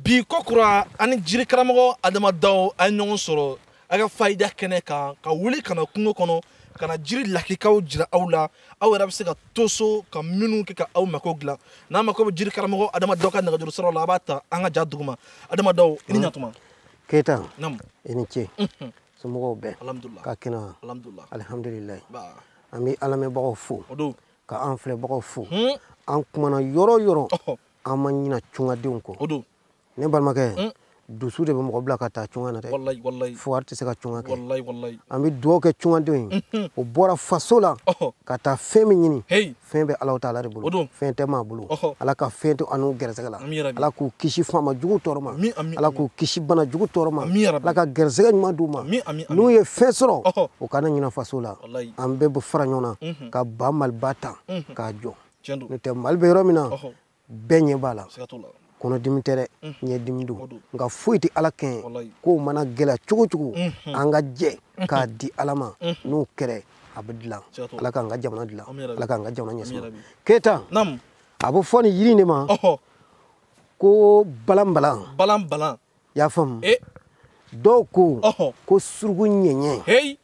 bi kokura an ni jiri karamɔgɔ adama daw a ye ɲɔgɔn sɔrɔ a ka fayida kɛnɛ kan ka wuli ka na kungo kɔnɔ ka na jiri lakikaw jira aw la aw yɛrɛ bɛ se ka to so ka minnu kɛ ka aw mako dilan n'a mako bɛ jiri karamɔgɔ adama daw ka nɛgɛjuru sira la a b'a ta an ka ja duguma adama daw i ni ɲatuma keyita i ni ce somɔgɔw bɛɛ ka kɛnɛ alihamdulilayi an bɛ an lamɛnbagaw fo ka an filɛbagaw fo an kumana yɔrɔ yɔrɔ an ma ɲina tungadenw kɔ o don ne balimakɛ mm. dusu de bɛ mɔgɔ bila ka taa tunga na dɛ fugari tɛ se ka tunga kɛ an bɛ dugawu kɛ tungadenw ye mm-hmm. u bɔra faso la ka taa fɛn min ɲini fɛn bɛ alahu taala de bolo fɛn tɛ maa bolo ala ka fɛn to an n'u gɛrɛsɛgɛ la ala k'u kisi faama jugu tɔɔrɔ ma ala k'u kisi bana jugu tɔɔrɔ ma ala ka gɛrɛsɛgɛ ɲuman d'u ma n'u ye fɛn sɔrɔ u kana ɲina faso la an bɛɛ bɛ fara ɲɔgɔn na mm-hmm. ka ba maliba ta mm-hmm. k'a jɔ n'o tɛ mali bɛ yɔrɔ min na bɛɛ ɲɛ b'a la kɔnɔdimi tɛ dɛ ɲɛdimi don nka foyi tɛ ala kɛɲɛ ko mana gɛlɛya cogo cogo an ka jɛ k'a di ala ma n'o kɛra a bɛ dilan ala k'an ka jamana dilan ala k'an ka jamana ɲɛsuma keyita a bɛ fɔ nin yiri in de ma ko balanbalan balanbalan y'a faamu dɔw ko ko suruku ɲɛɲɛ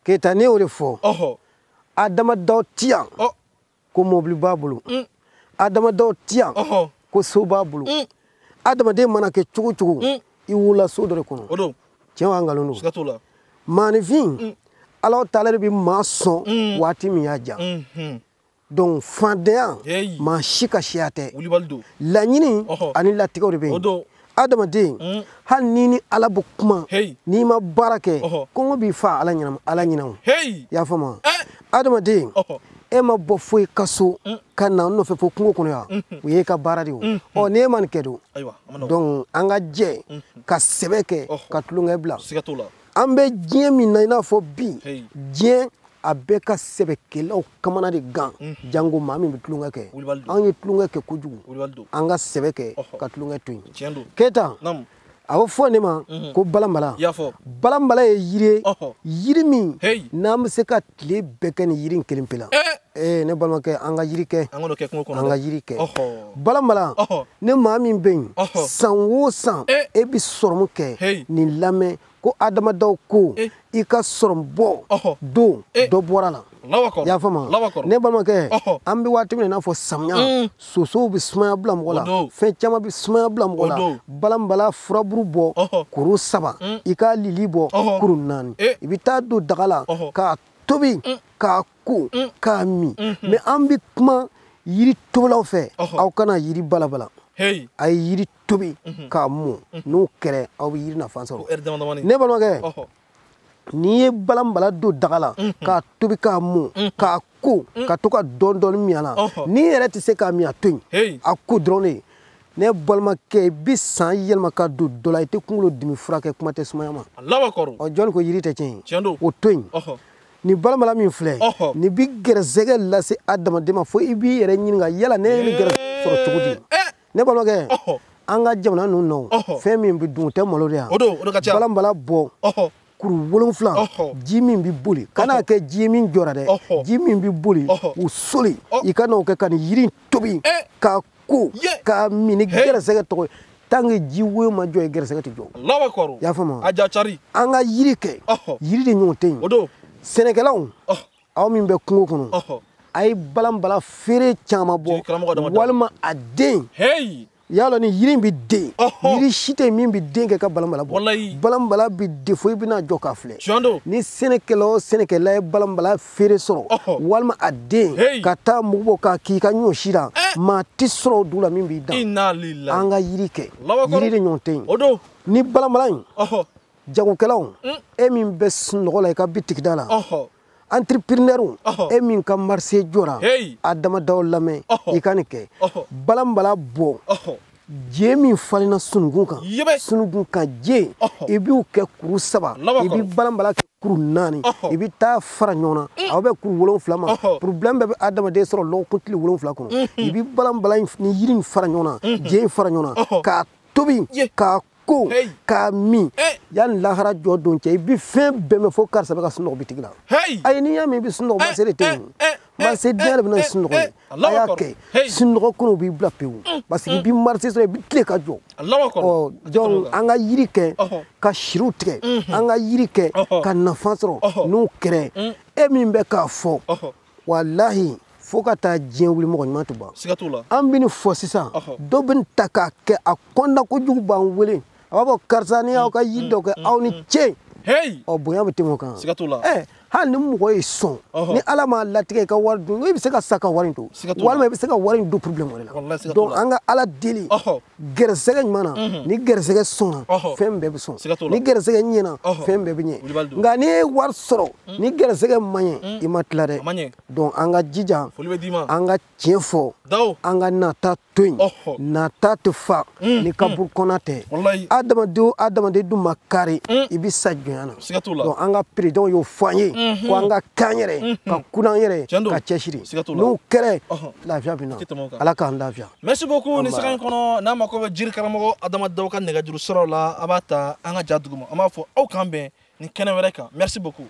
keyita ne y'o de fɔ adama daw ti yan ko mɔbili b'a bolo mm. adama daw ti yan ko so b'a bolo mm. adamaden mana kɛ cogo cogo mm. i wolola so dɔ de kɔnɔ tiɲɛ wa nkalon don maanifin alahu taala de bɛ maa sɔn waati min y'a diya mm-hmm. donc faantanya maa si ka siya tɛ laɲini ani latigɛ de bɛ yen adamaden hmm. hali n'i ni ala bɛ kuma n'i ma baara kɛ kɔngɔ b'i faa ala ɲinama ala ɲinama i y'a faamu eh. adamaden e ma bɔ fo i ka so hmm. ka na n nɔfɛ fo kungo kɔnɔ yan hmm. o y'e ka baara de ye o ɔ ni e ma nin kɛ don donc an ka jɛ ka sɛbɛ kɛ ka tulonkɛ bila an bɛ diɲɛ min na i n'a fɔ bi diɲɛ a bɛɛ ka sɛbɛkɛlaw kamana de gan mhm. jango maa min bɛ tulonkɛ kɛ an ye tulonkɛ kɛ kojugu an ka sɛbɛ kɛ ka tulonkɛ to yen keyita a bɛ fɔ nin ma mhm. ko balanbala balanbala ye yiri ye yiri min n'an bɛ se ka tile bɛɛ kɛ nin yiri in kelen pe la eh! ee eh, ne balimakɛ an ka yiri kɛ an ka yiri kɛ balanbala ni maa min bɛ yen san o san eh! e bɛ sɔrɔmu kɛ nin lamɛn ko adama daw ko i ka sɔrɔmu bɔ don dɔ bɔr'a la y'a faamu ne balimakɛ an bɛ waati min na i n'a fɔ samiya mm. sosow bɛ sumaya bila mɔgɔ la fɛn caman bɛ sumaya bila mɔgɔ la balanbala furaburu bɔ kuru saba mm. i k'a lili bɔ kuru naani eh. i bɛ taa don daga la k'a tobi mm. k'a ko mm. k'a min mm-hmm. mais an bɛ kuma yiri tobilaw fɛ aw kana yiri balabala a ye yiri tobi mm-hmm. k'a mɔ mm-hmm. n'o kɛra aw bɛ yiri nafa sɔrɔ ne balimakɛ n'i ye balanbala don daga la mhm. k'a tobi k'a mɔn mhm. k'a ko mhm. ka to ka dɔɔni min a la n'i yɛrɛ tɛ se k'a min a to yen a ko dɔrɔn de ne balimakɛ i bɛ san yɛlɛma ka don dɔ la i tɛ kunkolo dimi furakɛ kuma tɛ sumaya ma ɔ jɔni ko yiri tɛ tiɲɛ ye o to yen nin balanbala min filɛ nin bɛ gɛrɛsɛgɛ lase adamaden ma fo i b'i yɛrɛ ɲininka yala ne ye nin gɛrɛsɛgɛ sɔrɔ cogo di eh! ne balimakɛ an ka jamana ninnu na fɛn min bɛ dun o tɛ malo de yan balanbala bɔ kuru wolonfila ji min bɛ boli kan'a kɛ ji ye min jɔra dɛ ji min bɛ boli o soli i ka n'o kɛ ka nin yiri tobi eh. k'a ko k'a min ni gɛrɛsɛgɛ tɔgɔ ye tant que ji woyo ma jɔ ye gɛrɛsɛgɛ tɛ jɔ i y'a faamu an ka yiri kɛ yiri de ɲɔgɔn tɛ yen sɛnɛkɛlaw aw min bɛ kungo kɔnɔ a ye balanbala feere caman bɔ walima a den y'a lɔn ni yiri in bɛ den yiri si tɛ min bɛ den kɛ ka balanbala bɔ balanbala bɛ den fo i bɛna jɔ k'a filɛ ni sɛnɛkɛla o sɛnɛkɛla ye balanbala feere sɔrɔ walima a den ka taa mugu bɔ k'a k'i ka ɲɔ si la eh! maa tɛ sɔrɔ o dugu la min b'i dan an ka yiri kɛ yiri de ɲɔgɔn tɛ yen ni balanbala in jagokɛlaw mm. e min bɛ sunɔgɔ la i ka bitigida la entrepreneur e min ka marché jɔra adama daw lamɛn i ka nin kɛ balanbala bɔ je min falenna sununkun kan sununkun kan je i b'u kɛ kuru saba i bɛ balanbala kɛ kuru naani i bɛ taa fara ɲɔgɔn na mm. aw bɛ kuru wolonwula ma problème bɛɛ bɛ adamaden sɔrɔ lɔgɔkun tile wolonwula kɔnɔ mm-hmm. i bɛ balanbala ni yiri in fara ɲɔgɔn na mm-hmm. je in fara ɲɔgɔn na k'a tobi k'a ko k'a min yanni lahara jɔ don cɛ i bɛ fɛn bɛɛ mɛn fo karisa bɛ ka sunɔgɔ bitigi la ayi n'i y'a mɛn i bɛ sunɔgɔ marché de tɛ yen marché tiɲɛ de bɛ na sunɔgɔ ye a y'a kɛ sunɔgɔ kɔnɔ b'i bila pewu parce que i bɛ marché sɔrɔ i bɛ tile ka jɔ ɔ donc an ka yiri kɛ ka siriw tigɛ an ka yiri kɛ ka nafa sɔrɔ n'o kɛra e min bɛ k'a fɔ walahi fo ka taa diɲɛ wuli mɔgɔ ɲuman tɛ ban siga t'o la an bɛ nin fɔ sisan dɔ bɛ nin ta k'a kɛ a kɔnna kojugu b'an wele a b'a fɔ karisa n y'aw ka yiri mm, dɔ kɛ mm, aw ni mm, ce ɔ bonya bɛ tɛmɛ o kan siga t'o la ɛ hali ni mɔgɔ y'i sɔn ni ala m'a latigɛ i ka wari dun i bɛ se ka sa ka wari in to walima i bɛ se ka wari in don problème wɛrɛ la donc an ka ala deli gɛrɛsɛgɛ ɲuman na mhm. ni gɛrɛsɛgɛ sɔnna fɛn bɛɛ bɛ sɔn ni gɛrɛsɛgɛ ɲɛna fɛn bɛɛ bɛ ɲɛ nka n'i ye wari sɔrɔ mhm. ni gɛrɛsɛgɛ ma ɲɛ mhm. i ma tila dɛ donc an ka jija an ka tiɲɛ fɔ an ka nata to yen nata tɛ fa ni kaburu kɔnɔ tɛ adamaden o adamaden dun ma kari i bɛ sa jɔnya na donc an ka perezidan y'o fɔ an ye ko an ka kan yɛrɛ ka kun an yɛrɛ ka cɛsiri n'o kɛra lafiya bɛ na ala k'an lafiya merci beaucoup ni sanga in kɔnɔ n'a mako bɛ jiri karamɔgɔ adama daw ka nɛgɛjuru siraw la a b'a ta an ka ja duguma an b'a fɔ aw k'an bɛn ni kɛnɛ wɛrɛ kan merci beaucoup